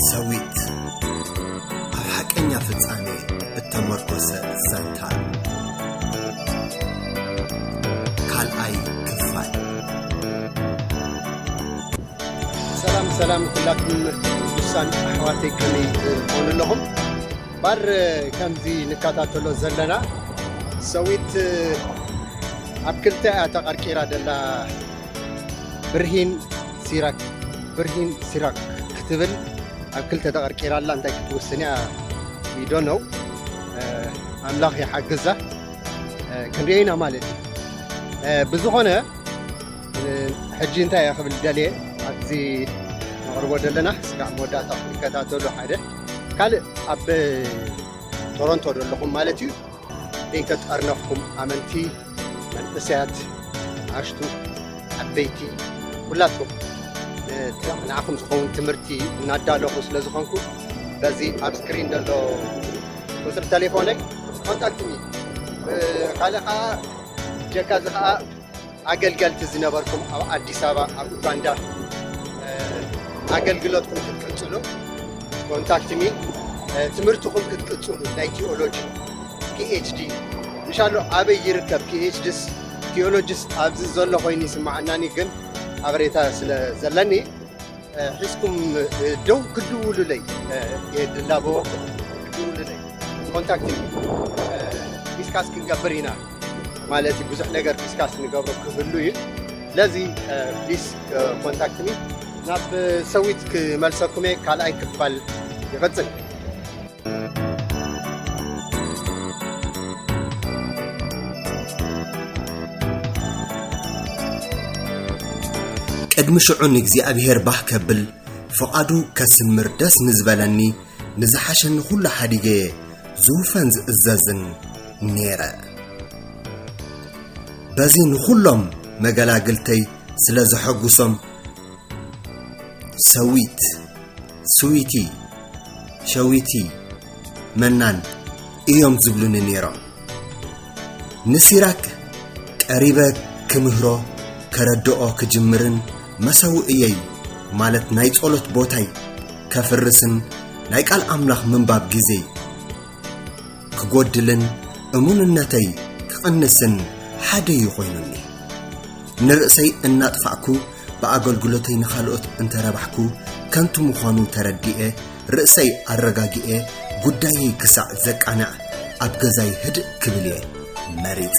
ሰዊት ኣብ ሓቀኛ ፍጻሜ እተመርኮሰ ዛንታ ካልኣይ ክፋል ሰላም ሰላም ኩላኩም ቅዱሳን ኣሕዋተይ ከመይ ትኾኑ ኣለኹም ባር ከምዚ ንከታተሎ ዘለና ሰዊት ኣብ ክልተ እያ ተቐርቂራ ደላ ብርሂን ሲራክ ብርሂን ሲራክ ክትብል ኣብ ክልተ ተቐርቂራ ኣላ እንታይ ክትውስን እያ ዊዶ ነው ኣምላኽ ይሓግዛ ክንሪኦ ኢና ማለት እዩ ብዝኾነ ሕጂ እንታይ እያ ክብል ደልየ ኣብዚ ነቕርቦ ዘለና ስጋዕ መወዳእታ ክትከታተሉ ሓደ ካልእ ኣብ ቶሮንቶ ዘለኹም ማለት እዩ ከይተጠርነፍኩም ኣመንቲ መንእሰያት ኣሽቱ ዓበይቲ ኩላትኩም ንዓኹም ዝኸውን ትምህርቲ እናዳለኹ ስለ ዝኾንኩ በዚ ኣብ ስክሪን ዘሎ ቁፅሪ ተሌፎነይ ኮንታክትኒ ካልእ ከዓ ጀካ እዚ ከዓ ኣገልገልቲ ዝነበርኩም ኣብ ኣዲስ ኣበባ ኣብ ኡጋንዳ ኣገልግሎትኩም ክትቅፅሉ ኮንታክት ሚ ትምህርትኹም ክትቅፅሉ ናይ ቲኦሎጂ ፒኤችዲ እንሻሎ ኣበይ ይርከብ ፒኤችዲስ ቲኦሎጂስ ኣብዚ ዘሎ ኮይኑ ይስማዓናኒ ግን ሓበሬታ ስለ ዘለኒ ሒዝኩም ደው ክድውሉለይ የድላቦ ክድውሉለይ ኮንታክት ዲስካስ ክንገብር ኢና ማለት እዩ ብዙሕ ነገር ዲስካስ ንገብሮ ክህሉ እዩ ስለዚ ፕሊስ ኮንታክትኒ ናብ ሰዊት ክመልሰኩም እየ ካልኣይ ክፋል ይቕፅል ቅድሚ ሽዑ ንእግዚኣብሔር ባህ ከብል ፍቓዱ ከስምር ደስ ንዝበለኒ ንዝሓሸኒ ዅሉ ሓዲገየ ዝውፈን ዝእዘዝን ነይረ በዚ ንዅሎም መገላግልተይ ስለ ዘሐጕሶም ሰዊት ስዊቲ፣ ሸዊቲ፣ መናን እዮም ዝብሉኒ ነይሮም። ንሲራክ ቀሪበ ክምህሮ ከረድኦ ክጅምርን መሰውእየይ ማለት ናይ ጸሎት ቦታይ ከፍርስን ናይ ቃል ኣምላኽ ምንባብ ግዜይ ክጎድልን እሙንነተይ ክቕንስን ሓደ እዩ ኮይኑኒ ንርእሰይ እናጥፋዕኩ ብኣገልግሎተይ ንኻልኦት እንተረባሕኩ ከንቱ ምዃኑ ተረዲኤ ርእሰይ ኣረጋጊኤ ጉዳየይ ክሳዕ ዘቃንዕ ኣብ ገዛይ ህድእ ክብል እየ መሪጸ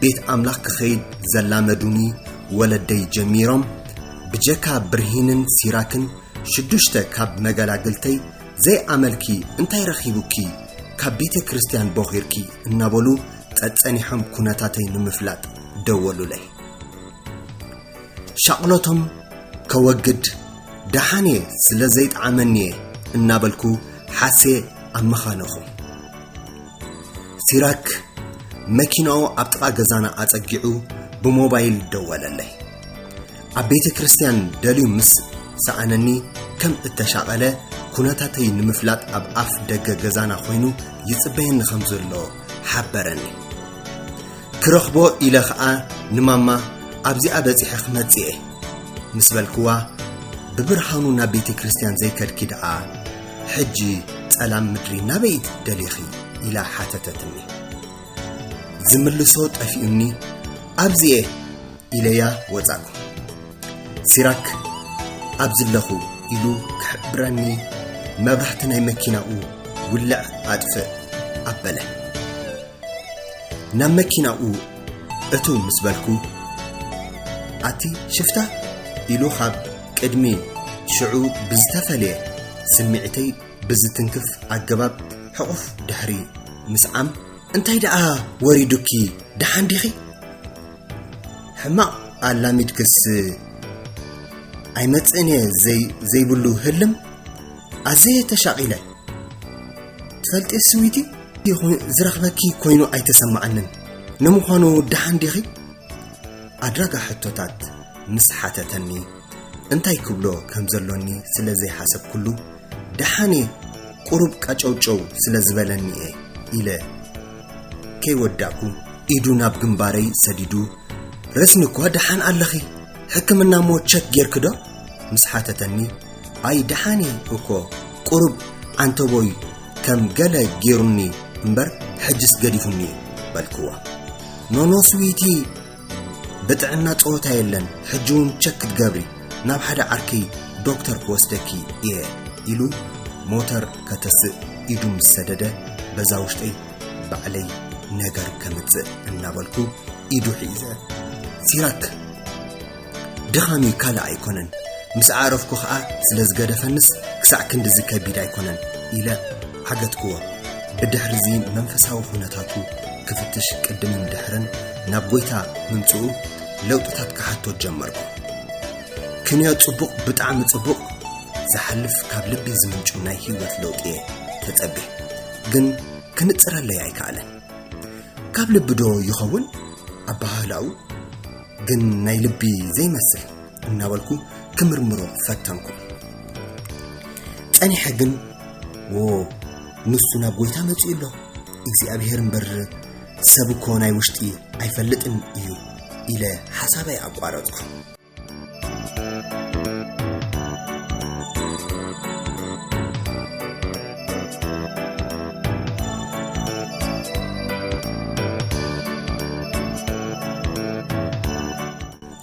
ቤት ኣምላኽ ክኸይድ ዘላመዱኒ ወለደይ ጀሚሮም ብጀካ ብርሂንን ሲራክን ሽዱሽተ ካብ መገላግልተይ ዘይኣመልኪ እንታይ ረኺቡኪ ካብ ቤተ ክርስቲያን ቦኺርኪ እናበሉ ጸጸኒሖም ኩነታተይ ንምፍላጥ ደወሉለይ ሻቕሎቶም ከወግድ ደሓን እየ ስለ ዘይጠዓመኒ እየ እናበልኩ ሓሴ ኣመኻነኹ ሲራክ መኪናኡ ኣብ ጥቓ ገዛና ኣጸጊዑ ብሞባይል ደወለለይ ኣብ ቤተ ክርስትያን ደልዩ ምስ ሰኣነኒ ከም እተሻቐለ ኩነታተይ ንምፍላጥ ኣብ ኣፍ ደገ ገዛና ኮይኑ ይጽበየኒ ከም ዘሎ ሓበረኒ ክረኽቦ ኢለ ኸኣ ንማማ ኣብዚኣ በጺሐ ክመጽእ ምስ በልክዋ ብብርሃኑ ናብ ቤተ ክርስትያን ዘይከድኪ ደኣ ሕጂ ጸላም ምድሪ ናበይ ትደሊኺ ኢላ ሓተተትኒ። ዝምልሶ ጠፊኡኒ ኣብዚ'የ ኢለያ ወጻእኩ። ሲራክ ኣብዚ ኣለኹ ኢሉ ክሕብረኒ መብራህቲ ናይ መኪናኡ ውልዕ ኣጥፍእ ኣበለ። ናብ መኪናኡ እትው ምስ በልኩ ኣቲ ሽፍታ ኢሉ ካብ ቅድሚ ሽዑ ብዝተፈልየ ስምዒተይ ብዝትንክፍ ኣገባብ ሕቑፍ ድሕሪ ምስዓም እንታይ ደኣ ወሪዱኪ ደሓን ዲኺ? ሕማቕ ኣላሚድክስ ኣይመጽእን እየ ዘይብሉ ህልም ኣዘየ ተሻቒለ ትፈልጢ ስዊቲ ዝረኽበኪ ኮይኑ ኣይተሰማዓንን ንምዃኑ ደሓን ዲኺ? ኣድራጋ ሕቶታት ምስ ሓተተኒ፣ እንታይ ክብሎ ከም ዘሎኒ ስለ ዘይሓሰብኩሉ፣ ደሓን'የ ቁሩብ ቀጨውጨው ስለ ዝበለኒ'የ ኢለ ከይወዳእኩ፣ ኢዱ ናብ ግንባረይ ሰዲዱ፣ ረስኒ'ኳ ደሓን ኣለኺ፣ ሕክምና'ሞ ቸክ ጌርኪ'ዶ? ምስ ሓተተኒ፣ ኣይ ደሓን'የ እኮ ቁሩብ ዓንተቦይ ከም ገለ ጌሩኒ እምበር ሕጅስ ገዲፉኒ'ዩ በልክዋ። ኖኖ ስዊቲ ብጥዕና ጸወታ የለን ሕጂ እውን ቸክ ክትገብሪ ናብ ሓደ ዓርኪ ዶክተር ክወስደኪ እየ ኢሉ ሞተር ከተስእ ኢዱ ምስ ሰደደ በዛ ውሽጠይ ባዕለይ ነገር ከምጽእ እናበልኩ ኢዱ ሒዘ ሲራክ ድኻም'ዩ ካልእ ኣይኮነን፣ ምስ ኣዕረፍኩ ኸኣ ስለ ዝገደፈንስ ክሳዕ ክንድዚ ከቢድ ኣይኮነን ኢለ ዓገትክዎ። ብድሕርዚ መንፈሳዊ ዅነታቱ ክፍትሽ ቅድምን ድሕርን ናብ ጐይታ ምምጽኡ ለውጥታት ክሓቶ ጀመርኩ። ክንዮ ጽቡቕ ብጣዕሚ ጽቡቕ ዝሓልፍ ካብ ልቢ ዝምንጩ ናይ ህይወት ለውጢ እየ ተጸብየ ግን ክንጽረለይ ኣይከኣለን ካብ ልቢ ዶ ይኸውን ኣበሃህላኡ ግን ናይ ልቢ ዘይመስል እናበልኩ ክምርምሮ ፈተንኩ ጸኒሐ ግን ዎ ንሱ ናብ ጎይታ መጺኡ ኣሎ እግዚኣብሄር እምበር ሰብ እኮ ናይ ውሽጢ ኣይፈልጥን እዩ ኢለ ሓሳበይ ኣቋረጥኩ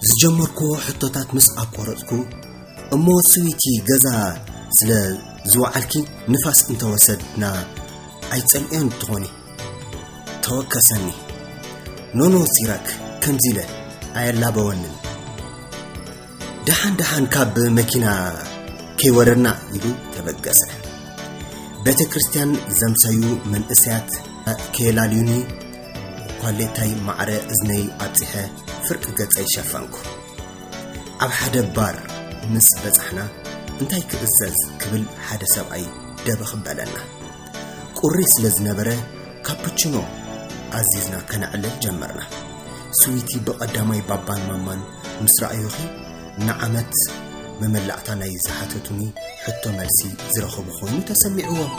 ዝጀመርክዎ ሕቶታት ምስ ኣቋረፅኩ እሞ ስዊቲ ገዛ ስለ ዝወዓልኪ ንፋስ እንተወሰድና ኣይፀልኦን ትኾኒ ተወከሰኒ ኖኖ ሲራክ ከምዚ ኢለ ኣየላበወንን ደሓን ደሓን ካብ መኪና ከይወረድና ኢሉ ተበገሰ። ቤተ ክርስቲያን ዘምሰዩ መንእሰያት ከየላልዩኒ ኳሌታይ ማዕረ እዝነይ ኣብፂሐ ፍርቂ ገፀይ ሸፈንኩ። ኣብ ሓደ ባር ምስ በፃሕና እንታይ ክእዘዝ ክብል ሓደ ሰብኣይ ደበኽ በለና። ቁሪ ስለ ዝነበረ ካፕችኖ ኣዚዝና ከነዕልል ጀመርና። ስዊቲ ብቐዳማይ ባባን ማማን ምስ ረኣዩኺ ንዓመት መመላእታ ናይ ዝሓተቱኒ ሕቶ መልሲ ዝረኸቡ ኮይኑ ተሰሚዕዎም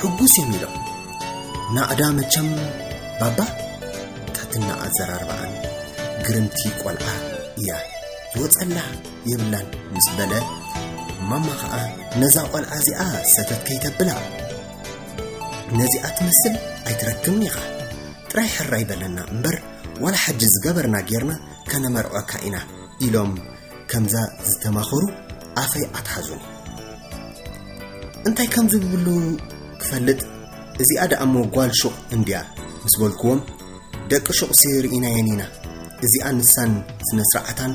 ሕጉስ እዮም ኢሎም። ናእዳ መቸም ባባ ታትና ኣዘራርባኣን ግርምቲ ቆልዓ እያ ዝወፀላ። የብላን ምስ በለ ማማ ኸኣ ነዛ ቖልዓ እዚኣ ሰተት ከይተብላ ነዚኣ ትመስል ኣይትረክብን ኢኻ ጥራይ ሕራይ በለና እምበር ዋላ ሓጂ ዝገበርና ጌርና ከነመርዖካ ኢና ኢሎም ከምዛ ዝተማኸሩ ኣፈይ ኣትሓዙኒ እንታይ ከም ዝብሉ ክፈልጥ እዚኣ ደኣ እሞ ጓል ሹቕ እንድያ ምስ በልክዎም ደቂ ሹቕሲ ርኢናየን ኢና እዚኣ ንሳን ስነ ስርዓታን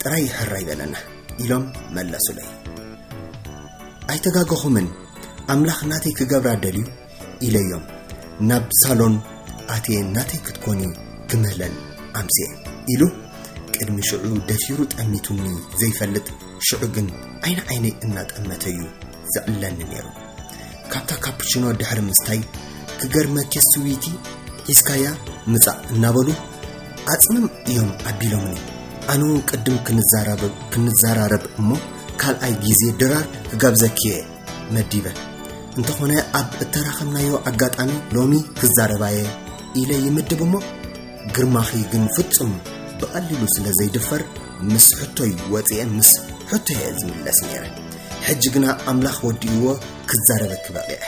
ጥራይ ሕራ ይበለና ኢሎም መለሱለይ ኣይተጋገኹምን ኣምላኽ ናተይ ክገብራ ደልዩ ኢለዮም ናብ ሳሎን ኣትየ ናተይ ክትኮኒ ክምህለል ኣምስየ ኢሉ ቅድሚ ሽዑ ደፊሩ ጠሚቱኒ ዘይፈልጥ ሽዑ ግን ዓይኒ ዓይነይ እናጠመተዩ ዝዕለኒ ነይሩ። ካብታ ካፕቺኖ ድሕሪ ምስታይ ክገርመኪ ስዊቲ ሒዝካያ ምጻእ እናበሉ ኣጽምም እዮም ኣቢሎምኒ። ኣነ እውን ቅድም ክንዘራረብ እሞ ካልኣይ ግዜ ድራር ክጋብዘኪ እየ መዲበ እንተኾነ ኣብ እተራኸብናዮ ኣጋጣሚ ሎሚ ክዛረባየ ኢለ ይምድብ እሞ ግርማኺ ግን ፍጹም ብቐሊሉ ስለ ዘይድፈር ምስ ሕቶይ ወፂኤ ምስ ሕቶ እየ ዝምለስ ነይረ ሕጂ ግና ኣምላኽ ወዲእዎ ክዛረበኪ በቒዐ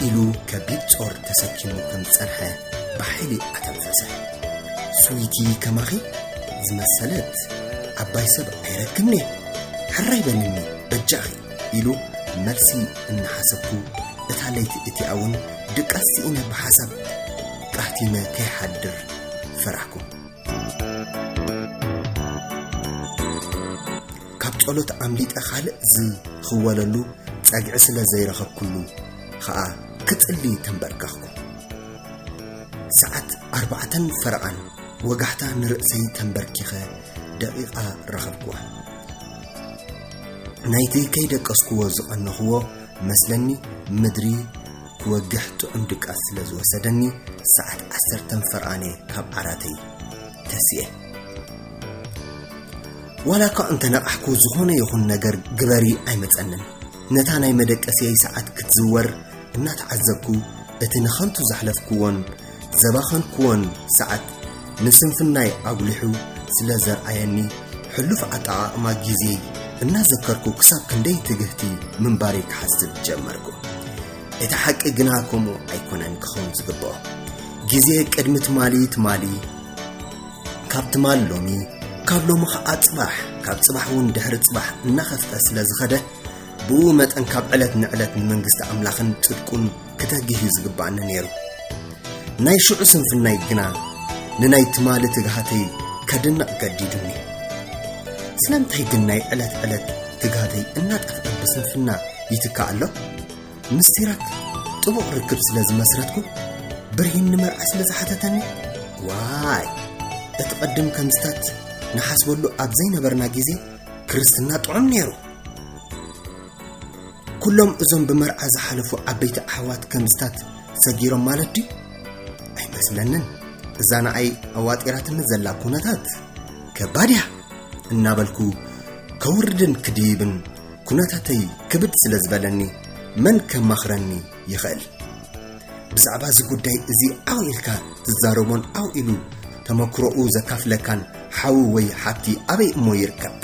ኢሉ ከቢድ ጾር ተሰኪሙ ከም ዝጸንሐ ብሓይሊ ኣተንፈሰ ስዊቲ ከማኺ ዝመሰለት ዓባይ ሰብ ኣይረክብኒ ሕራይ በልኒ በጃኺ ኢሉ መልሲ እናሓሰብኩ እታ ለይቲ እቲኣ እውን ድቃስ ስኢነ ብሓሳብ ቃሕቲነ ከይሓድር ፈራሕኩም። ካብ ጸሎት ኣምሊጠ ካልእ ዝኽወለሉ ጸግዒ ስለ ዘይረኸብኩሉ ኸኣ ክጽሊ ተንበርከኽኩ። ሰዓት ኣርባዕተን ፈረቓን ወጋሕታ ንርእሰይ ተንበርኪኸ ደቒቓ ረኸብኩዋ። ናይቲ ከይደቀስኩዎ ዝቐነኹዎ መስለኒ ምድሪ ክወግሕ ጥዑም ድቃስ ስለ ዝወሰደኒ ሰዓት ዓሰርተን ፈርኣነ ካብ ዓራተይ ተሲኤ ዋላ እኳ እንተነቓሕኩ ዝኾነ ይኹን ነገር ግበሪ ኣይመፀንን ነታ ናይ መደቀስየይ ሰዓት ክትዝወር እናተዓዘብኩ እቲ ንኸንቱ ዘሕለፍክዎን ዘባኸንክዎን ሰዓት ንስንፍናይ ኣጉሊሑ ስለ ዘርኣየኒ ሕሉፍ ኣጠቓቕማ ግዜይ እናዘከርኩ ክሳብ ክንደይ ትግህቲ ምንባረይ ክሓስብ ጀመርኩ። እቲ ሓቂ ግና ከምኡ ኣይኮነን ክኸውን ዝግብኦ። ግዜ ቅድሚ ትማሊ ትማሊ፣ ካብ ትማሊ ሎሚ፣ ካብ ሎሚ ኸዓ ጽባሕ፣ ካብ ጽባሕ እውን ድሕሪ ጽባሕ እናኸፍተ ስለ ዝኸደ ብኡ መጠን ካብ ዕለት ንዕለት ንመንግስቲ ኣምላኽን ጽድቁን ክተግህ እዩ ዝግባኣኒ ነይሩ ናይ ሽዑ ስንፍናይ ግና ንናይ ትማሊ ትግሃተይ ከድንቕ ገዲዱኒ ስለምንታይ ግን ናይ ዕለት ዕለት ትግሃተይ እናጠፍኣ ብስንፍና ይትካእ ኣሎ ምስ ሲራክ ጥቡቕ ርክብ ስለ ዝመስረትኩ ብርሂን ንመርዓ ስለ ዝሓተተኒ ዋይ እቲ ቐድም ከምስታት ንሓስበሉ ኣብ ዘይነበርና ግዜ ክርስትና ጥዑም ነይሩ ኩሎም እዞም ብመርዓ ዝሓለፉ ዓበይቲ ኣሕዋት ከምዝታት ሰጊሮም ማለት ድዩ ኣይመስለንን እዛ ንኣይ ኣዋጢራትኒ ዘላ ኩነታት ከባድ እያ እናበልኩ ከውርድን ክድይብን ኩነታተይ ክብድ ስለ ዝበለኒ መን ከማኽረኒ ይኸእል። ብዛዕባ እዚ ጉዳይ እዚ ዓው ኢልካ ትዛረቦን ዓው ኢሉ ተመክሮኡ ዘካፍለካን ሓዊ ወይ ሓብቲ ኣበይ እሞ ይርከብ?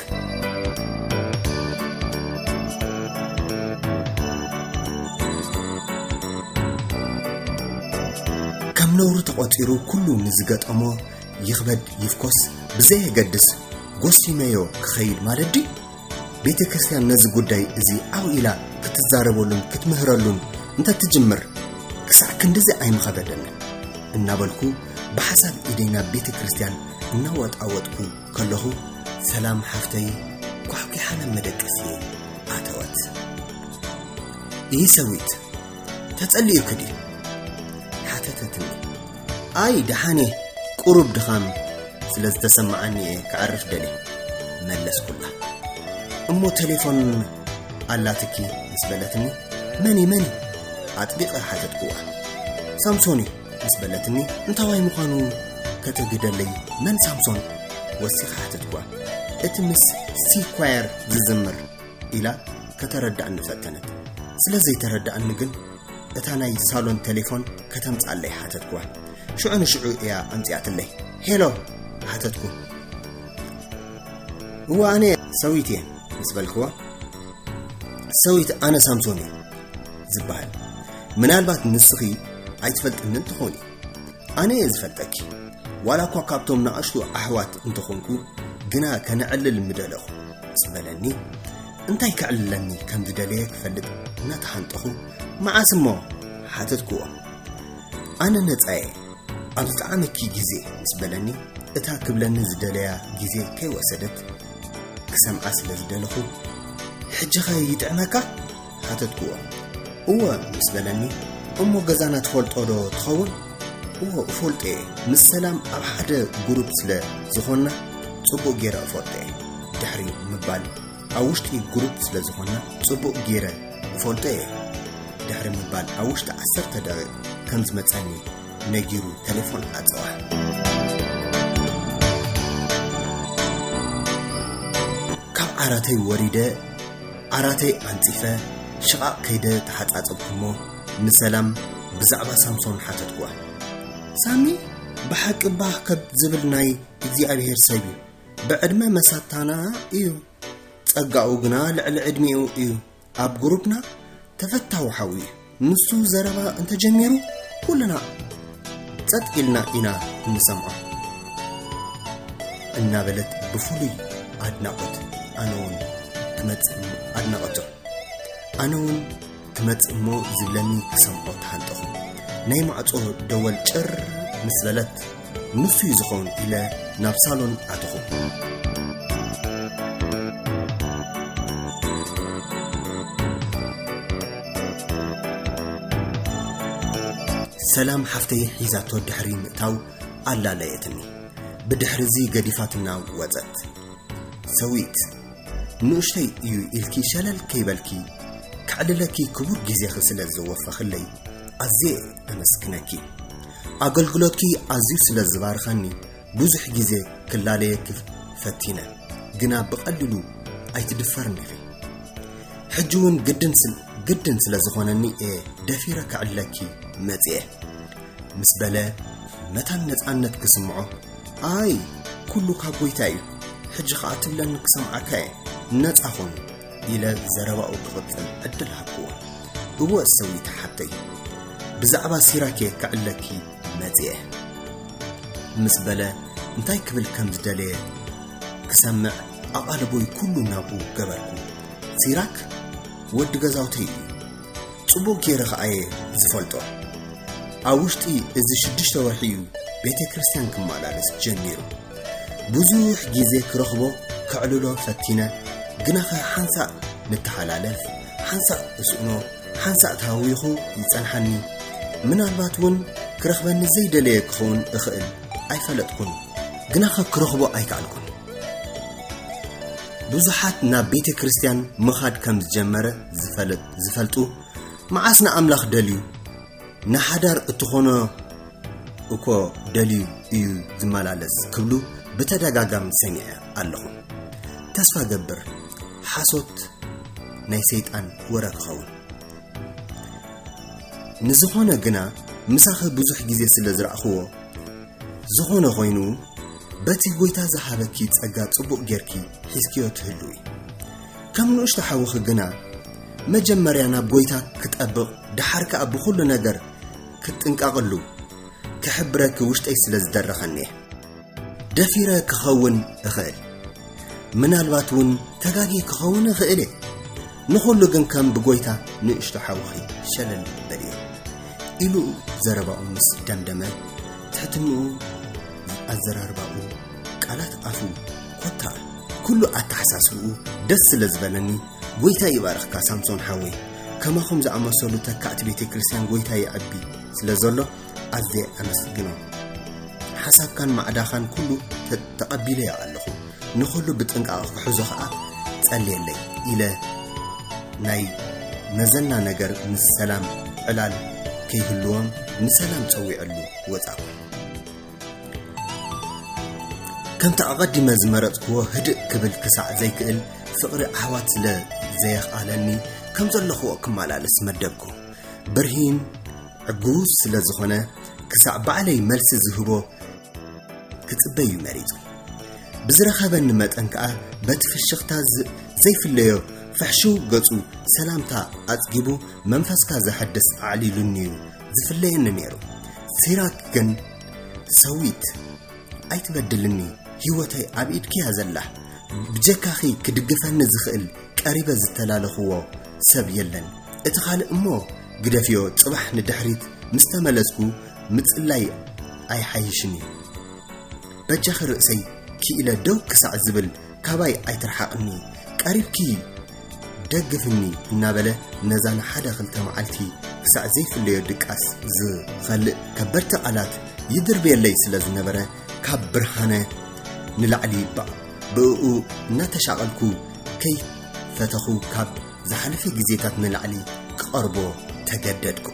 ነውሪ ተቖፂሩ ኩሉ ንዝገጠሞ ይኽበድ ይፍኮስ ብዘየገድስ ጎሲመዮ ክኸይድ ማለት ድዩ ቤተ ክርስቲያን ነዚ ጉዳይ እዚ ዓው ኢላ ክትዛረበሉን ክትምህረሉን እንተትጅምር ክሳዕ ክንድዚ ኣይምኸበደን እናበልኩ ብሓሳብ ኢደይ ናብ ቤተ ክርስቲያን እናወጣወጥኩ ከለኹ ሰላም ሓፍተይ ኳሕኲሓ ናብ መደቀሲ ኣተወት ይህ ሰዊት ተጸልዩኪ ድዩ ሓተተትኒ ኣይ ደሓን እየ ቁሩብ ድኻም ስለ ዝተሰማዓኒ እየ ክዕርፍ ደልየ መለስኩላ እሞ ቴሌፎን ኣላትኪ ምስ በለትኒ መን መን ኣጥቢቐ ሓተትክዋ ሳምሶን እዩ ምስ በለትኒ እንታዋይ ምዃኑ ከተግደለይ መን ሳምሶን ወሲኻ ሓተትክዋ እቲ ምስ ሲኳየር ዝዝምር ኢላ ከተረዳእኒ ፈተነት ስለ ዘይተረዳእኒ ግን እታ ናይ ሳሎን ቴሌፎን ከተምጽኣለይ ሓተትኩዋ ሽዑ ንሽዑ እያ ኣምጽኣትለይ ሄሎ ሓተትኩ እዋ ኣነ ሰዊት እየ ምስ በልክዋ ሰዊት ኣነ ሳምሶን እዩ ዝበሃል ምናልባት ንስኺ ኣይትፈልጥንን ትኾኒ ኣነ እየ ዝፈልጠኪ ዋላ እኳ ካብቶም ንኣሽቱ ኣሕዋት እንተኾንኩ ግና ከነዕልል ምደለኹ ምስ በለኒ እንታይ ከዕልለኒ ከም ዝደለየ ክፈልጥ እናተሓንጠኹ መዓስ እሞ ሓተትክዎ ኣነ ነፃየ ኣብ ዝጠዓመኪ ግዜ ምስ በለኒ እታ ክብለኒ ዝደለያ ግዜ ከይወሰደት ክሰምዓ ስለ ዝደለኹ ሕጂኸ ይጥዕመካ ሓተትክዎ እወ ምስ በለኒ እሞ ገዛና ትፈልጦ ዶ ትኸውን እዎ እፈልጦ እየ ምስ ሰላም ኣብ ሓደ ጉሩብ ስለ ዝኾንና ጽቡቕ ገይረ እፈልጦ እየ ድሕሪ ምባል ኣብ ውሽጢ ግሩፕ ስለ ዝኾንና ጽቡቕ ጌረ እፈልጦ እየ ድሕሪ ምባል ኣብ ውሽጢ ዓሰርተ ደቂቕ ከም ዝመጸኒ ነጊሩ ቴሌፎን ኣጸዋዕ ዓራተይ ወሪደ ዓራተይ ኣንጺፈ ሽቓቕ ከይደ ተሓጻጸብኩሞ ንሰላም ብዛዕባ ሳምሶን ሓተትኩዋ ሳሚ ብሓቂ ባህ ከብ ዝብል ናይ እግዚኣብሄር ሰብ እዩ ብዕድመ መሳታና እዩ ጸጋኡ ግና ልዕሊ ዕድሜኡ እዩ ኣብ ግሩፕና ተፈታዊ ሓው እዩ ንሱ ዘረባ እንተጀሚሩ ኩልና ጸጥ ኢልና ኢና እንሰምዖ እናበለት ብፍሉይ ኣድናቖት ኣነ እውን ክመጽእ ኣድናቐቶ ኣነ እውን ክመጽእ እሞ ዝብለኒ ክሰምዖ ተሃንጠኹ ናይ ማዕጾ ደወል ጭር ምስ በለት ንሱ እዩ ዝኸውን ኢለ ናብ ሳሎን ኣተኹ ሰላም ሓፍተይ ሒዛቶ ድሕሪ ምእታው ኣላለየትኒ ብድሕሪ እዚ ገዲፋትና ወፀት ሰዊት ንኡሽተይ እዩ ኢልኪ ሸለል ከይበልኪ ከዕልለኪ ክቡር ግዜኺ ስለ ዘወፈኽለይ ኣዝየ ኣመስግነኪ። ኣገልግሎትኪ ኣዝዩ ስለ ዝባርኸኒ ብዙሕ ግዜ ክላለየኪ ፈቲነ ግና ብቐሊሉ ኣይትድፈርን ኢኺ። ሕጂ እውን ግድን ግድን ስለ ዝኾነኒ እየ ደፊረ ከዕልለኪ መጺኤ። ምስ በለ መታን ነጻነት ክስምዖ ኣይ ኩሉ ካብ ጎይታ እዩ ሕጂ ከኣ ትብለኒ ክሰምዓካ እየ ነጻ ኹን ኢለ ዘረባኡ ክቕጽል ዕድል ሃብክዎ እወ ሰዊት ሓተይ ብዛዕባ ሲራክ እየ ክዕለኪ መጽየ ምስ በለ እንታይ ክብል ከም ዝደለየ ክሰምዕ ኣቓልቦይ ኩሉ ናብኡ ገበርኩ ሲራክ ወዲ ገዛውተይ እዩ ጽቡቕ ጌረ ኸኣየ ዝፈልጦ ኣብ ውሽጢ እዚ ሽዱሽተ ወርሒ እዩ ቤተ ክርስቲያን ክመላለስ ጀሚሩ ብዙሕ ጊዜ ክረኽቦ ከዕልሎ ፈቲነ ግናኸ ሓንሳእ ንተሓላለፍ ሓንሳእ እስእኖ ሓንሳእ ተሃዊኹ ይጸንሓኒ ምናልባት እውን ክረኽበኒ ዘይደለየ ክኸውን እኽእል ኣይፈለጥኩን ግናኸ ክረኽቦ ኣይከኣልኩን ብዙሓት ናብ ቤተ ክርስቲያን ምኻድ ከም ዝጀመረ ዝፈልጥ ዝፈልጡ መዓስ ንኣምላኽ ደልዩ ንሓዳር እትኾኖ እኮ ደልዩ እዩ ዝመላለስ ክብሉ ብተደጋጋሚ ሰሚዐ ኣለኹ ተስፋ ገብር ሓሶት ናይ ሰይጣን ወረ ክኸውን ንዝኾነ ግና ምሳኺ ብዙሕ ግዜ ስለ ዝረእኽዎ ዝኾነ ኾይኑ በቲ ጎይታ ዝሃበኪ ጸጋ ጽቡቕ ጌርኪ ሒዝክዮ ትህልዊ ከም ንእሽቶ ሓውኺ ግና መጀመርያ ናብ ጎይታ ክጠብቕ ደሓር ከኣ ብኹሉ ነገር ክትጥንቀቕሉ ክሕብረኪ ውሽጠይ ስለ ዝደረኸኒ ደፊረ ክኸውን እኽእል ምናልባት እውን ተጋጊ ክኸውን እኽእል እየ ንኹሉ ግን ከም ብጎይታ ንእሽቶ ሓውኺ ሸለል በል እየ ኢሉ ዘረባኡ ምስ ደምደመ ትሕትንኡ ኣዘራርባኡ ቃላት ኣፉ ኮታ ኩሉ ኣተሓሳስብኡ ደስ ስለ ዝበለኒ ጎይታ ይባርኽካ ሳምሶን ሓወይ ከማኹም ዝኣመሰሉ ተካእቲ ቤተ ክርስቲያን ጎይታ ይዕቢ ስለ ዘሎ ኣዝየ ኣመስግኖ ሓሳብካን ማዕዳኻን ኩሉ ተቐቢለዮ ኣለኹ ንኹሉ ብጥንቃቐ ክሕዞ ኸዓ ጸልየለይ ኢለ ናይ መዘና ነገር ምስ ሰላም ዕላል ከይህልዎም ንሰላም ጸዊዐሉ ወጻእኩ ከምቲ ኣቐዲመ ዝመረጽክዎ ህድእ ክብል ክሳዕ ዘይክእል ፍቕሪ ኣሕዋት ስለ ዘየኽኣለኒ ከም ዘለኽዎ ክመላለስ መደብኩ። ብርሂን ዕጉስ ስለ ዝኾነ ክሳዕ ባዕለይ መልሲ ዝህቦ ክጽበ እዩ መሪጹ። ብዝረኸበኒ መጠን ከኣ በቲ ፍሽኽታ ዘይፍለዮ ፍሕሽው ገጹ ሰላምታ ኣጽጊቡ መንፈስካ ዘሐድስ ኣዕሊሉኒ እዩ ዝፍለየኒ ነይሩ ሲራክ ግን ሰዊት ኣይትበድልኒ ህይወተይ ኣብ ኢድኪያ ዘላ ብጀካኺ ክድግፈኒ ዝኽእል ቀሪበ ዝተላለኽዎ ሰብ የለን እቲ ካልእ እሞ ግደፍዮ ጽባሕ ንድሕሪት ምስ ተመለስኩ ምጽላይ ኣይሓይሽን እዩ በጃኺ ርእሰይ ክኢለ ደው ክሳዕ ዝብል ካባይ ኣይትርሓቕኒ ቀሪብኪ ደግፍኒ እናበለ ነዛ ንሓደ ክልተ መዓልቲ ክሳዕ ዘይፍለዮ ድቃስ ዝኸልእ ከበድቲ ቃላት ይድርብየለይ ስለ ዝነበረ ካብ ብርሃነ ንላዕሊ ይባዕ ብእኡ እናተሻቐልኩ ከይፈተኹ ካብ ዝሓለፈ ግዜታት ንላዕሊ ክቐርቦ ተገደድኩ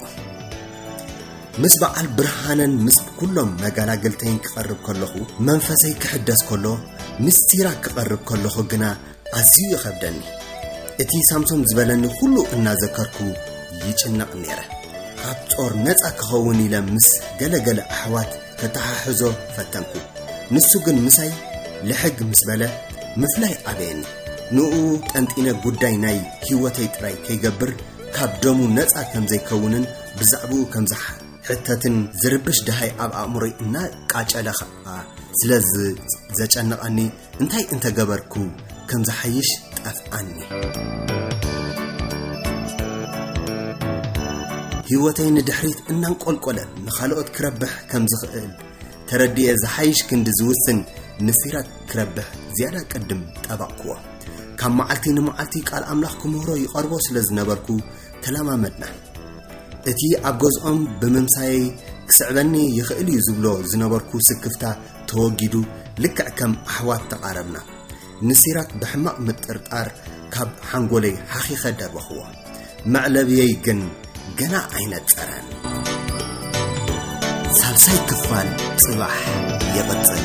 ምስ በዓል ብርሃነን ምስ ኩሎም መጋላገልተይን ክቐርብ ከለኹ መንፈሰይ ክሕደስ ከሎ ምስጢራ ክቐርብ ከለኹ ግና ኣዝዩ ይኸብደኒ እቲ ሳምሶም ዝበለኒ ኩሉ እናዘከርኩ ይጭነቕ ነይረ ካብ ጾር ነፃ ክኸውን ኢለ ምስ ገለገለ ኣሕዋት ከተሓሕዞ ፈተንኩ ንሱ ግን ምሳይ ልሕግ ምስ በለ ምፍላይ ኣበየኒ ንኡ ጠንጢነ ጉዳይ ናይ ህይወተይ ጥራይ ከይገብር ካብ ደሙ ነፃ ከም ዘይከውንን ብዛዕባኡ ከም ዝሕተትን ዝርብሽ ድሃይ ኣብ ኣእምሮይ እናቃጨለ ከዓ ስለ ዘጨነቐኒ እንታይ እንተ ገበርኩ ከም ዝሓይሽ ጠፍኣኒ። ህይወተይ ንድሕሪት እናንቆልቆለ ንኻልኦት ክረብሕ ከም ዝኽእል ተረድየ ዝሓይሽ ክንዲ ዝውስን ንሲራክ ክረብሕ ዝያዳ ቅድም ጠባቕክዎ ካብ መዓልቲ ንመዓልቲ ቃል ኣምላኽ ክምህሮ ይቐርቦ ስለ ዝነበርኩ ተለማመድና እቲ ኣብ ገዝኦም ብምምሳየይ ክስዕበኒ ይኽእል እዩ ዝብሎ ዝነበርኩ ስክፍታ ተወጊዱ ልክዕ ከም ኣሕዋት ተቓረብና። ንሲራክ ብሕማቕ ምጥርጣር ካብ ሓንጎለይ ሓኺኸ ደበኽዎ። መዕለብየይ ግን ገና ኣይነጸረን። ሳልሳይ ክፋል ጽባሕ ይቕጽል።